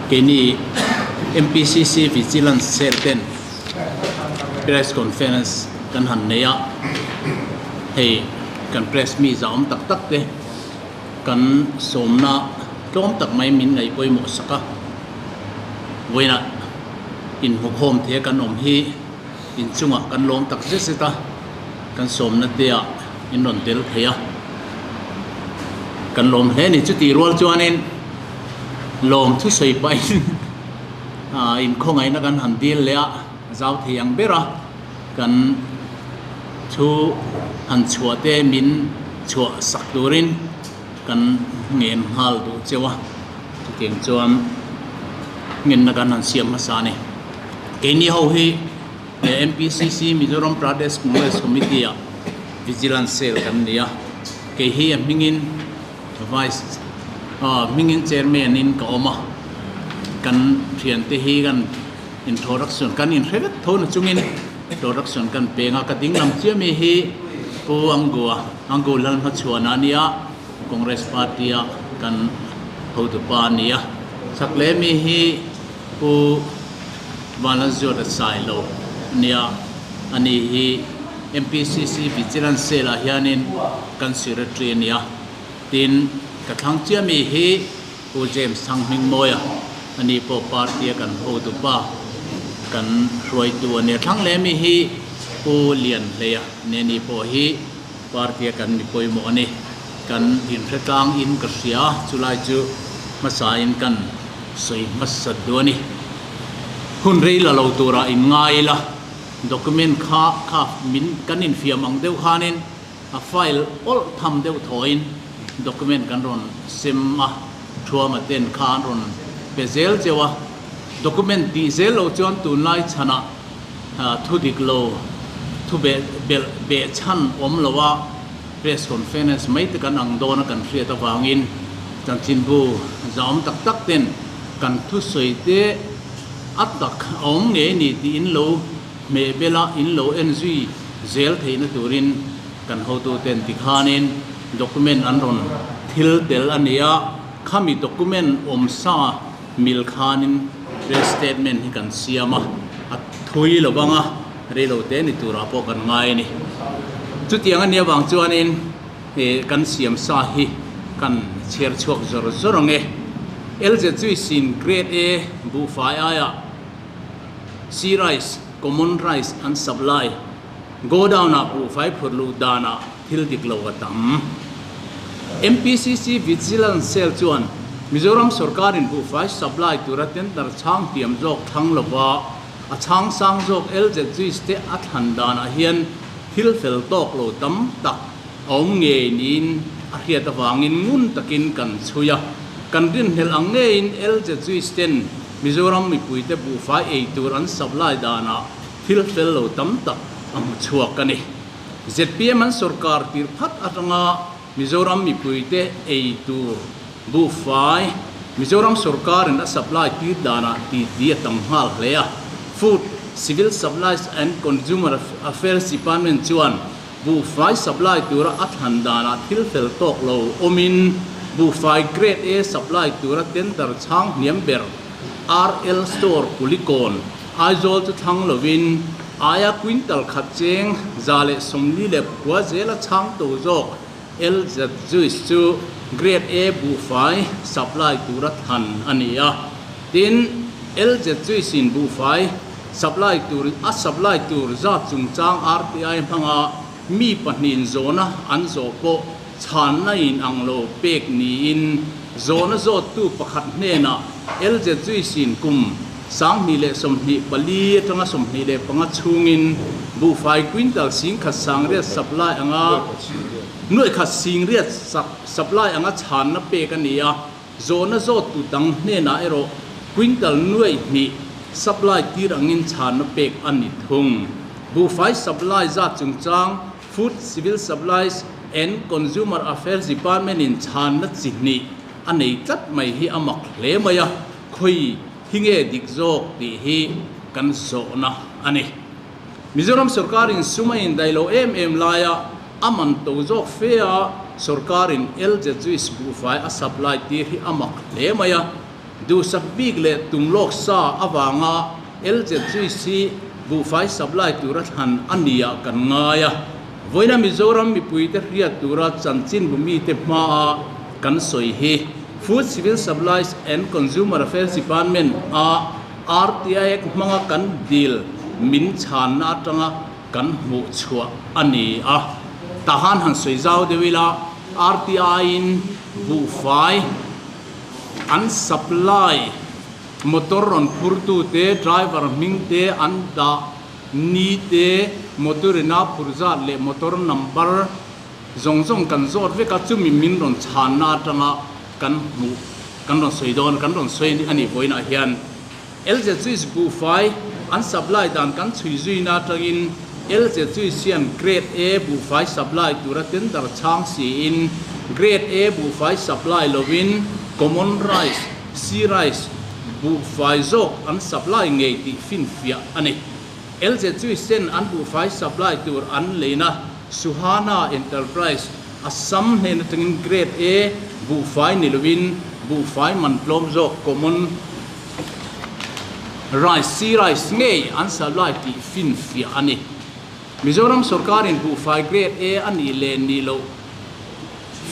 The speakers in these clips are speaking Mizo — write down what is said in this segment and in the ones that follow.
keini mpcc vigilance sir ten press conference kan han nei a hei kan press mi zawm tak tak te kan sawmna tlawm tak mai min ngaih pawimawh sak a vawiinah inhmukhawm thei kan awm hi. Inchungah kan lawm tak zet zet a, kan sawmna tea in rawn tel phei a, kan lawm hle ni chu tih rual chuanin lawm thusawi pahin inkhawngaihnna kan han dil leh a, zau thei ang bera kan thu han chhuah te min chhuah sak turin kan ngen nghal duh cheu a, chutiang chuan ngenna kan han siam hmasa a ni. Keini ho hi MPCC, Mizoram Pradesh Congress Committee a Vigilance Cell kan ni a, kei hi a hmingin Vice ah hmingin Chairman in ka awm a, kan thian te hi kan introduction kan inhre vek tho na chungin introduction kan peng a, ka ding lam chiah mi hi Pu Angua, Angua Lalhmachhuana a ni a, Congress Party a kan hotupa a ni a, chhak leh mi hi Pu Balanzioda Sai Lo nia, a ni hi MPCC Vigilance Cell ah hianin kan Secretary a nia. Tin, ka thlang chiah mi hi Pu James Thanghmingmawia, a ni pawh party a kan hotupa, kan hruaitu a nia. Thlang leh mi hi Pu Lian Hleia nia, ni pawh hi. Party a kan ni pawimawh a ni. Kan inhre tlang in ka hria, chulai chu hmasa in kan sawi hmasa duh a ni. Hun rei la lo turah in ngai ila, document kha kha min kan infiam ang deuh khan in a file awlh tham deuh thaw in document kan rawn sem a, thuama ten kha an rawn pe zel cheu a, document tih zel lo chuan tunlai chhan ah, Thu dik lo, thu belh beh chhan awm lo a press conference mai te kan ang dawn a kan hriat avangin chanchinbu zaawm tak tak ten kan thusawi te a tak a awm ngei a ni tiin lo hmeh bel a, in lo en zui zel theihna turin kan hotu ten ti khanin document an rawn thil tel a nia, khami document awm sa. Mil khanin rate statement hi kan siam a, a thui lo vang a, reilo te ni turah pawh kan ngai a ni. Chutiang a nia vang chuanin he kan siam sa hi kan chhiar chhuak zawr zawr ang e. LZ chu i sin Grade A buhfai aia Sea Rice, Common Rice an sap lai. Godown ah buhfai phurhluh danah. Thil dik lo a tam. MPCC Vigilance Cell chuan Mizoram sawrkarin buhfai supply tura tender chhang tiam zawk thlang lova a chhang sang zawk LZGs te a thlan danah hian thil fel tawk lo tam tak a awm ngei niin a hriat avangin ngun takin kan chhui a. Kan rinhmel ang ngeiin LZGs ten Mizoram mipuite buhfai ei tur an supply danah thil fel lo tam tak a hmu chhuak a ni. Zpm an sawrkar tirh phat atanga Mizoram mipuite ei tur buhfai Mizoram sawrkarin a supply tir danah tih ti a tam nghal hle a. Food, Civil Supplies and Consumer Affairs Department chuan buhfai supply tura a thlan danah thil fel tawk lo awmin buhfai Grade A supply tura tender chhang hniam ber RL Store Pulikorn, Aizawl chu thlang lovin aia quintal khat cheng za leh sawmli lep khua zela chhang to zawk LZ Juice chu Grade A buhfai supply tura thlan a ni a. Tin, LZ Juice in buhfai supply tur a supply tur zat chungchang RTI hmanga mi pahnih in zawhna an zawh pawh, Chhanna in ang lo pek niin zawn a zawttu pakhat hnenah Elzet Zui Sin kum sanghnih leh sawmhnih pali atanga sawmhnih leh panga chhungin buhfai quintal singkhat sangriat sap lai anga nuaihkhat singriat sap lai anga chhanna pek a ni a, zawn a zawttu dang hnenah erawh quintal nuaihnih sap lai tir angin chhanna pek a ni thung. Buhfai sap lai zat chungchang. Food, Civil Supplies and Consumer Affairs Department-in chhanna chi hnih a nei tlat mai hi a mak hle mai a, khawi hi nge dik zawk tih hi kan sawhna a ni. Mizoram sorkarin sum a indai lo em em laia a man to zawk fea sorkarin LZUIS buhfai a supply tir hi a mak hle mai a, Duhsak bik leh tum lawk sa avanga LZGC buhfai supply tura thlan a ni ah kan ngai a, vawiina Mizoram mipuite hriat tura chanchinbu mite hmaa kan sawi hi Food Civil Supplies and Consumer Affairs Department a RTIAct hmanga kan dil min chhanna atanga kan hmuh chhuah a ni a, tahan han sawi zau deuh ila RTI-in buhfai. An supply motor rawn phur tu te, driver hming te, an dah ni te, motor in a phur zat leh motor number zawng zawng kan zawt vek a, chumi min rawn chhan na atanga kan hmuh kan rawn sawi dawn kan rawn sawi a nih bawiin ah hian. Lzcc buhfai an supply dan kan chhui zuina atangin Lzcc hian Grade A buhfai supply tura tender chhang siin Grade A buhfai supply lovin Common Rice, C-Rice, buhfai zawk an supply ngei tih finfiah a ni. Lzcc-en an buhfai supply tur an leina Suhana Enterprise Assam hnen atangin Grade A buhfai ni loin buhfai man tlawm zawk common rice si rice ngei an salh lai tih finfiah a ni. Mizoram sawrkarin buhfai Grade A a nih leh nih loh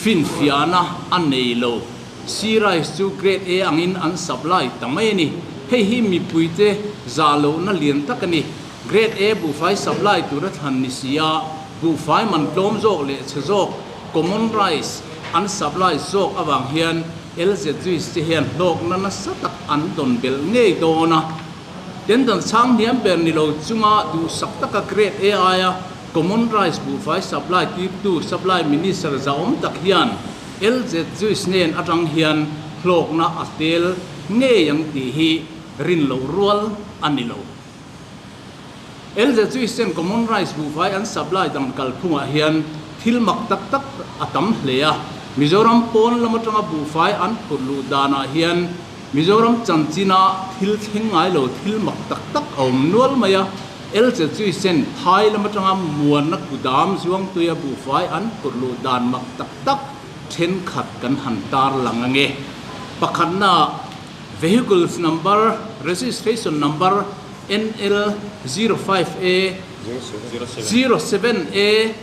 finfiahna a nei lo. Si rice chu Grade A angin an sap lai ta mai a ni. Hei hi mipuite zah lohna lian tak a ni. Grade A buhfai supply tura thlan ni si a, buhfai man tlawm zawk leh chhe zawk, common rice, an supply zawk avang hian LZ Juice te hian hlawkna nasa tak an dawn belh ngei dawn a. Tendon chhang hniam ber ni lo chunga duhsak taka Grade A aia common rice buhfai supply tirtu Supply Minister zahawm tak hian LZ Juice nen atang hian hlawkna a fel ngei ang tih hi rin loh rual a ni lo. Elder chu i sem Common Rice buhfai an supply dan kal phungah hian thil mak tak tak a tam hle a. Mizoram pawn lam atanga buhfai an phurh luh danah hian Mizoram chanchinah thil thleng ngai lo thil mak tak tak a awm nual mai a. Elder chu i sen Thai lam atanga muanna kudam Zhuangtuia buhfai an phurh luh dan mak tak tak thenkhat kan han tarlang ange. Pakhatna. Vehicles number, registration number, NL zero five A zero seven A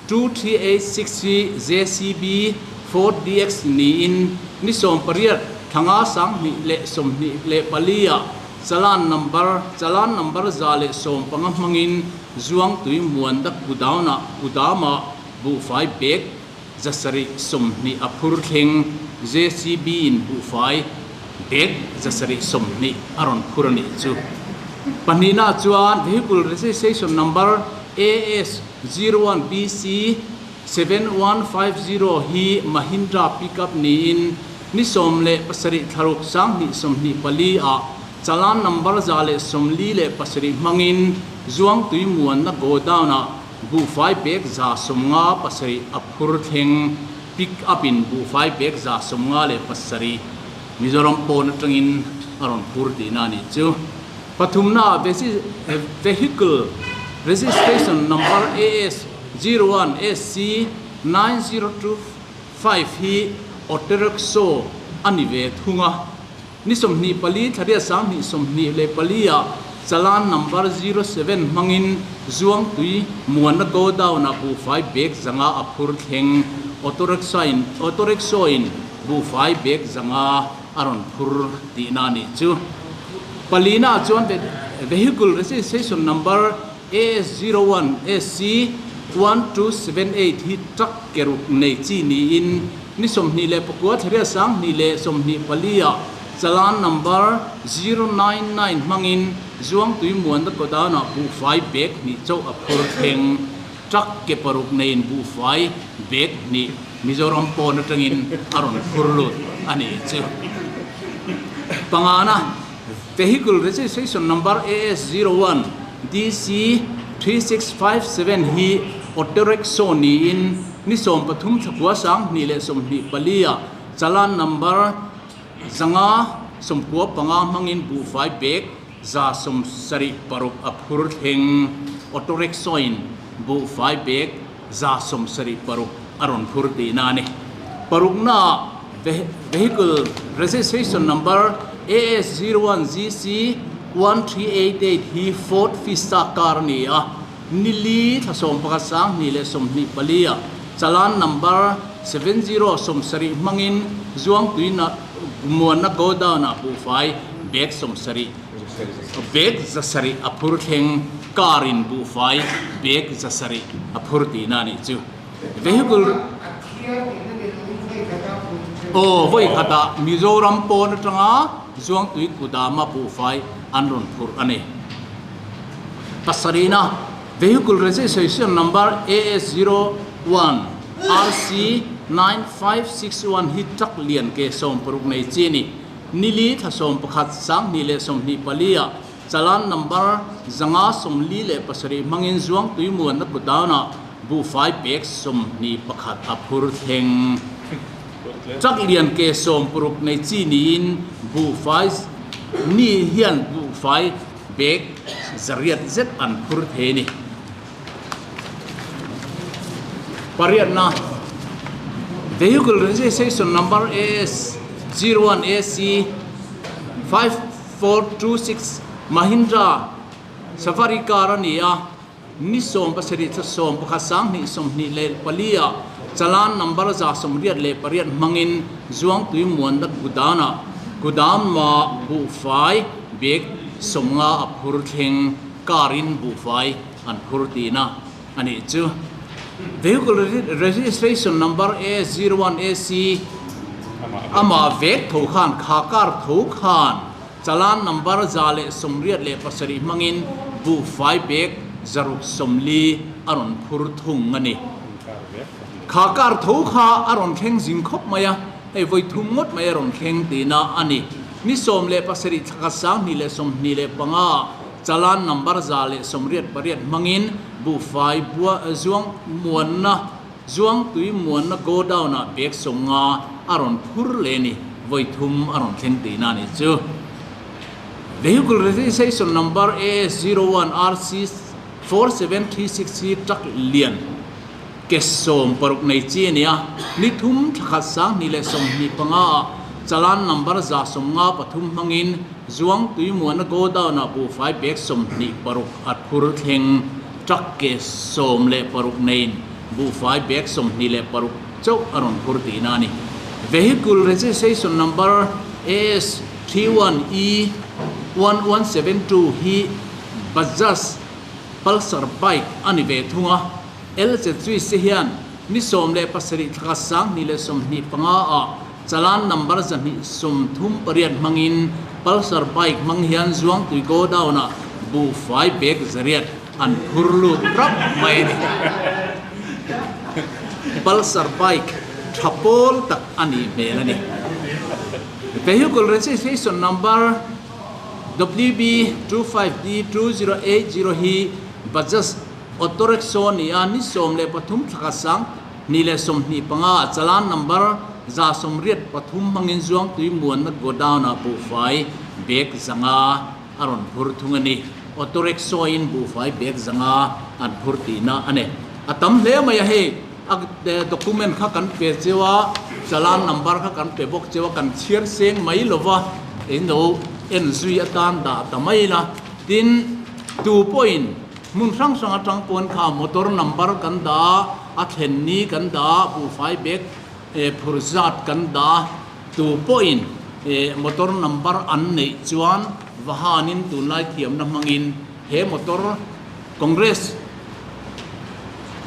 two three eight six hi JCB Ford DX niin ni sawm pariat thlanga sanghnih leh sawmhnih leh palia challan number, challan number za leh sawm panga hmangin Zuangtui Muanda Kudauna, Kudama, buhfai bag Zasarih sawmhnih a phur thleng JCB in buhfai dek zasarih sawmhnih a rawn phur a nih chu. Pahnihna ah chuan Vehicle Registration Number AS zero one BC seven one five zero hi Mahindra Pickup niin ni sawm leh pasarih thlaruk sanghnih sawmhnih pali ah Challan Number za leh sawmli leh pasarih hmangin Zuangtui muanna Godown ah Buhfai pek za sawm nga pasarih a phur thleng pick up in buhfai pek za sawm nga leh pasarih Mizoram pawn atangin a rawn phur tihna a nih chu. Pathumnaah Vehicle Registration Number AS zero one SC nine zero two five hi autorickshaw a ni ve thung a, Ni sawmhnih pali thlaria sanghnih sawmhnih leh palia Challan Number zero seven hmangin Zuangtui, Muanna Godown ah buhfai bag zanga a phur thleng. Auto Rickshaw in Auto Rickshaw in buhfai bag zanga a rawn phur tihna a nih chu. Palina ah chuan Vehicle Registration Number AS zero one SC one two seven eight hi truck ke ruk nei chi niin Ni sawmhnih leh pakua thlariat sanghnih leh sawmhnih palia chalan number zero nine nine hmangin Zuangtui Muanda Tawdana buhfai bag hnih chauh a phur thleng. Truck ke paruk neiin buhfai bag hnih Mizoram pawn atangin a rawn phur lut a nih chu. Pangana. Vehicle Registration Number AS zero one DC three six five seven hi auto rickshaw niin ni sawm pathum thla khua sang hnih leh sawmhnih pali ah challan number zanga sawmkhua panga hmangin buhfai pek za sawm sarih paruk a phur thleng auto rickshaw in buhfai pek Za sawm sarih paruk a rawn phur tih na a ni. Parukna ah Vehicle Registration Number AS zero one GC one three eight eight hi Ford Fiesta car a ni a, ni li thla sawm pakhat sang hnih leh sawmhnih pali ah Challan Number seven zero sawm sarih hmangin Zuangtuina Gumuanna Godown ah buhfai bag sawm sarih Bag zasarih a phur thleng Car in buhfai bag zasarih a phur tihna a nih chu Vehicle Aw vawikhatah Mizoram pawn atanga Zuangtui kudama buhfai an rawn phur a ni Pasarihna Vehicle Registration Number AS zero one RC nine five six one hi truck lian ke sawmpuruk nei chi a ni Nili thla sawm pakhat, sanghnih leh sawmhnih pali ah Chalan number zanga sawmli leh pasarih hmangin Zuang Tuimuanna putdan ah buhfai pek sawmhnih pakhat a phur thleng. Chak lian ke sawm puruk nei chi niin buhfai ni hian buhfai bag zariat zet an phur thei a ni. Pariatna, Vehicle Registration Number AS 01 AC 5426 Mahindra Safari Car a ni a, ni sawm pasarih thla sawm pakhat sang hnih sawmhnih leh pali ah Challan Number a za sawmriat leh pariat hmang in Zuangtui Muanlat Gudan ah Kudam mah buhfai bag sawmnga a phur thleng Car in buhfai an phur tiin a a nih chu. Vehicle Registration Number a zero one AC amah vek tho khan kha car tho khan Challan Number za leh sawmriat leh pasarih hmangin buhfai bag zaruk sawmli a rawn phur thung a ni. Kha car tho kha a rawn thleng zing khawp mai a, hei vawi thum ngawt mai a rawn thleng tiin a a ni. Ni sawm leh pasarih thlaka sang hnih leh sawmhnih leh panga ah, Chalan number za leh sawmriat pariat hmangin buhfai bua zuang muanna zuang tui muanna godown ah pek sawmnga a rawn phur leh ni vawi thum a rawn thleng tihna a nih chu. Vehicle registration number AS zero one RC four seven three six hi truck lian. Case sawm paruk nei chi a nia, ni thum thla khat sanghnih leh sawmhnih panga ah challan number za sawm nga pathum hmangin Zuang Tuimuana Godown ah buhfai pek sawmhnih paruk a thur thleng. Truck case sawm leh paruk neiin buhfai pek sawmhnih leh paruk chauh a rawn thur tihna a ni. Vehicle registration number AS three one E one one seven two hi Bajaj Pulsar bike a ni ve thung a, Elcet chu i se hian ni sawm leh pasarih thlaka sanghnih leh sawmhnih panga ah chalan number zahnih sawm thum pariat hmangin Pulsar bike hmang hian Zuangtui go down ah buhfai pek zariat an phur lut rap mai a ni. Pulsar bike tha pawl tak a nih hmel a ni. Vehicle registration number WB25D2080 hi Bajaj Autorexo nia ni sawm leh pathum thlaka sang hnih leh sawmhnih panga chalan number za sawmriat pathum hmangin zuangtui muanna godown ah buhfai bag zanga a rawn hur thung a ni. Autorexo in buhfai bag zanga an hur tihna a ni. A tam hle mai a hei a document kha kan pe cheu a, chalan number kha kan pe bawk cheu a, kan chhiar seng mai lo va eng emaw en zui atan dah ta mai la tin tu pawhin, Hmun hrang hrang atang pawn kha motor number kan dah, a thlen ni kan dah, buhfai bag phur zat kan dah, tu pawhin motor number an neih chuan Vahanin tunlai thiamna hmangin he motor Congress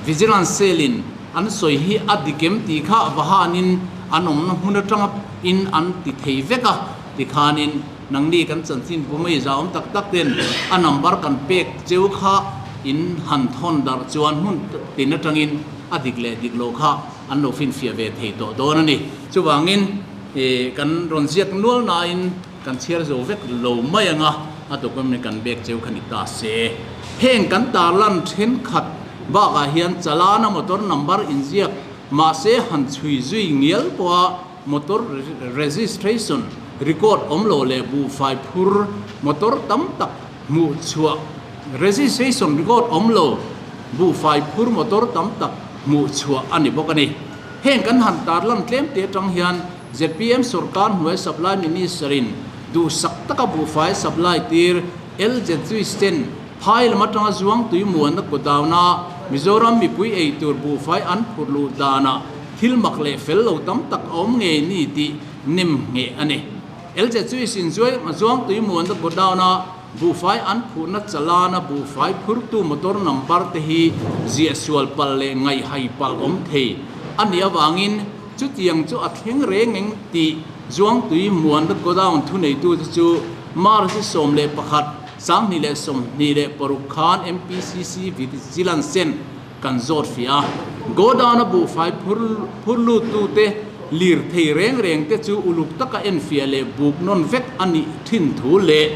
Vigilance Cell in an sawi hi a dikem tih kha Vahanin an awmna hmun atanga in an ti thei vek a ti khanin Nangni kan chanchin pu mai zaawm tak tak ten a number kan pek cheu kha in han thawn darh chuan hmun tin atangin a dik leh dik lo kha an lo finfiah ve thei tawh dawn a ni. Chuvangin kan rawn ziak nual nain kan chhiar zo vek lo mai ang a, a document kan bek cheu kha ni ta se. Heng kan tarlan thenkhat bakah hian chalana motor number inziak mahse han chhui zui ngial pawha, Motor registration record awm lo leh buhfai phur motor tam tak hmuh chhuah registration record awm lo buhfai phur motor tam tak hmuh chhuah a ni bawk a ni. Heng kan han tarlan tlem te atang hian zpm sawrkar hnuai supply minister in duhsak taka buhfai supply tir LZUI Stand Phai lam atanga zuang tui muanna kutdauna Mizoram mipui eitur buhfai an phurh luh danah thil mak leh fel lo tam tak a awm ngei ni tih nem ngheh a ni. Lze chu isin zuang tui muanna kutdauna buhfai an phurhna chalana buhfai phurtu motor number te hi ziahsual palh leh ngaihai palh awm thei a ni avangin chutiang chu a thleng reng eng tih zuang tui muanna godown thuneitute chu March sawm leh pakhat Sanghnih leh sawmhnih leh paruk khan MPCC Vigilancen kan zawt fiah a, Godana buhfai phur phur luttute, lirthei reng reng te chu uluk taka enfiah leh buk nawn vek a nih thin thu leh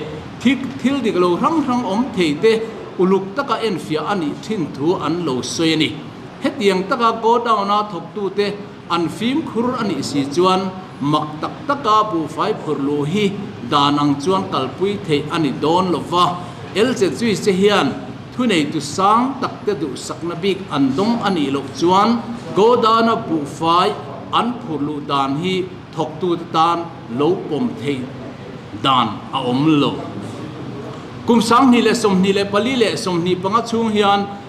thik thil dik lo hrang hrang awm thei te uluk taka enfiah a nih thin thu an lo sawi a ni. Hetiang taka Godana thawktute, An fimkhur a nih si chuan mak tak taka buhfai phurh luh hi dan ang chuan kalpui theih a ni dawn lo va, Elchet Zui che hian thuneitu sang takte duhsakna bik an dawng a nih loh chuan Godana buhfai an phurh luh dan hi thawktute tan lo pawm theih dan a awm lo. Kum sanghnih leh sawmhnih leh pali leh sawmhnih panga chhung hian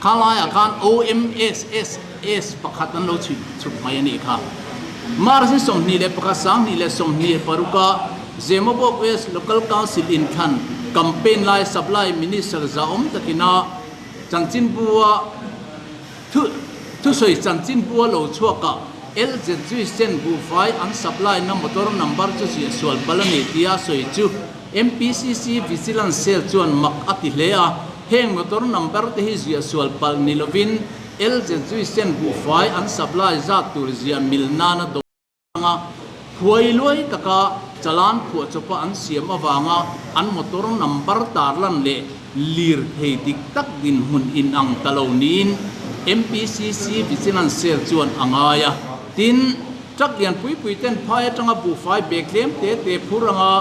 Kha laiah khan OMSSS pakhat an lo chhit chhup mai a nih kha. March-i sawmhnih leh pakhat sanghnih leh sawmhnih paruk a Zemawbawk West Local Council in thlan campaign lai Supply Minister zahawm takin a chanchinbu a Thu thusawi chanchin bua lo chhuakah LZG Sen buhfai an supply na motor number chu ziahsual pal a ni tia sawi chu MPCC Vigilance Cell chuan mak a ti hle a. Heng motor number te hi ziahsual pal ni lovin LZG Sen buhfai an supply zat tur ziah mil nana dawr. Chhanga huai luai taka chalan khuah chawpa an siam avanga an motor number tarlan leh lir thei dik tak dinhmun inang ta lo niin MPCC Vigilance Cell chuan a ngai a. Tin, truck lian pui pui ten phai atanga buhfai bag tlem te te phur anga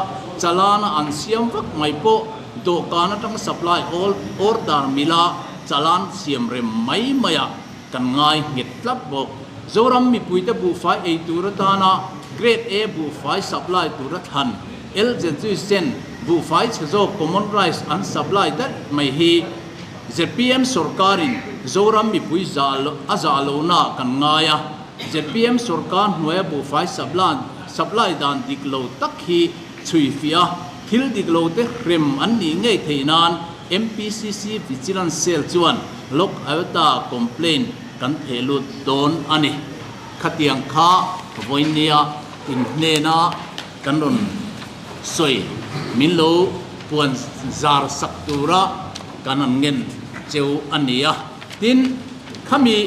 chalana an siam vak mai pawh dawhkan atanga supply all order mila chalan siam rem mai mai a. Kan ngai nghet tlat bawk. Zoram mipuite buhfai ei tur atana Grade A buhfai supply tur a thlan, LZUI Sen buhfai chhe zawk Common Rice an supply daih mai hi zpm sorkarin Zoram mipui zah a zah lonaah kan ngai a, zpm sorkar hnuaia buhfai supply dan dik lo tak hi chhui fiah a, thil dik lote hrem an nih ngei theih nan MPCC Vigilance Cell chuan. Log Out-a complain kan pheh lut dawn a ni. Khatiang kha Vawinia in hnena kan rawn sawi, min lo puan zar sak tura kan rawn ngen cheu a nia. Tin, khami.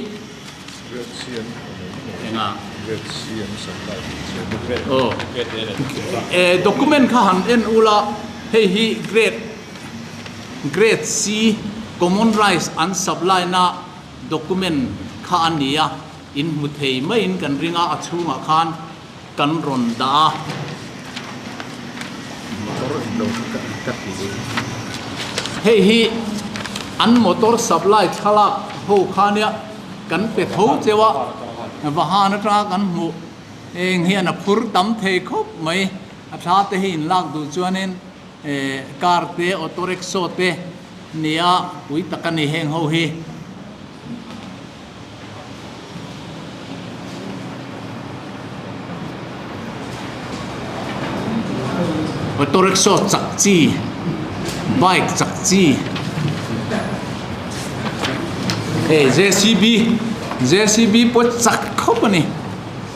Riatchian a nei maw? Enga? Riatchian sakna a tih cheu maw? Aw. Document kha han en ula hei hi grade Grade C, Common Rice an supplyna document kha a ni a, in hmu thei maiin kan ring a, a chhungah khan kan rawn dah a. Motor in lo kha kan cut tih hi. Hei hi an motor supply thlalak ho kha nia, kan pe tho cheu a, va han atanga kan hmu eng hian a phur tam thei khawp mai, a thla te hi in lak duh chuanin, Car te auto rickshaw te nia pui tak a ni heng ho hi. Auto rickshaw chak chi bike chak chi hey JCB JCB pawh chak khawp a ni.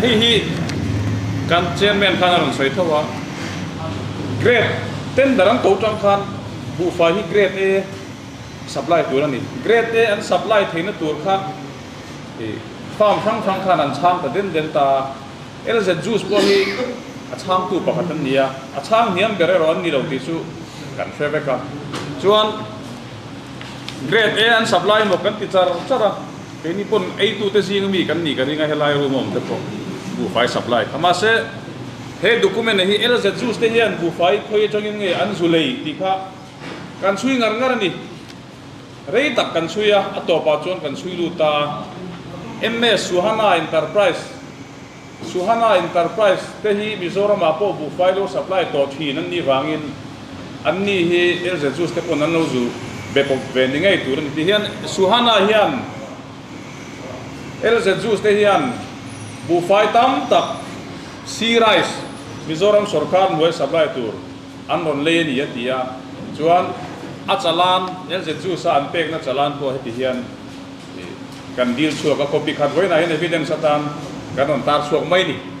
Hei hi kan Chairman khan a rawn sawi tho a, grade tender an to tang khan buhfai hi grade A supply tur a ni. Grade A an supply theihna tur kha farm hrang hrang khan an chhang ta den den ta a. LZ Juice pawh hi a chhangtu pakhat an ni a, a chhang hniam ber erawh an ni lo tih chu kan hre vek a. Chuan grade A an supply maw kan ti char char a. Keini pawn eitute zinga mi kan nih ka ring a, helai room a awmte pawh buhfai sap lai. A mahse, he document a hi LZ Jews te hian buhfai khawi atangin nge an zu lei tih kha kan chhui ngar ngar a ni. Rei tak kan chhui a, a tawpah chuan kan chhui lut ta a. MS Suhana Enterprise. Suhana Enterprise te hi Mizoramah pawh buhfai lo supply tawh thin an nih vangin an ni hi lz juice te pawn an lo zu be pawp ve ni ngei tur a ni. Tihian Suhana hian lz juice te hian buhfai tam tak Sea Rice Mizoram sawrkar hnuai supply tur an rawn lei a ni a ti a. Chuan a chalan lz juice a an pekna chalan pawh heti hian. kan dil chhuak a copy khat vawiinah hian evidence atan kan rawn tar chhuak mai a ni.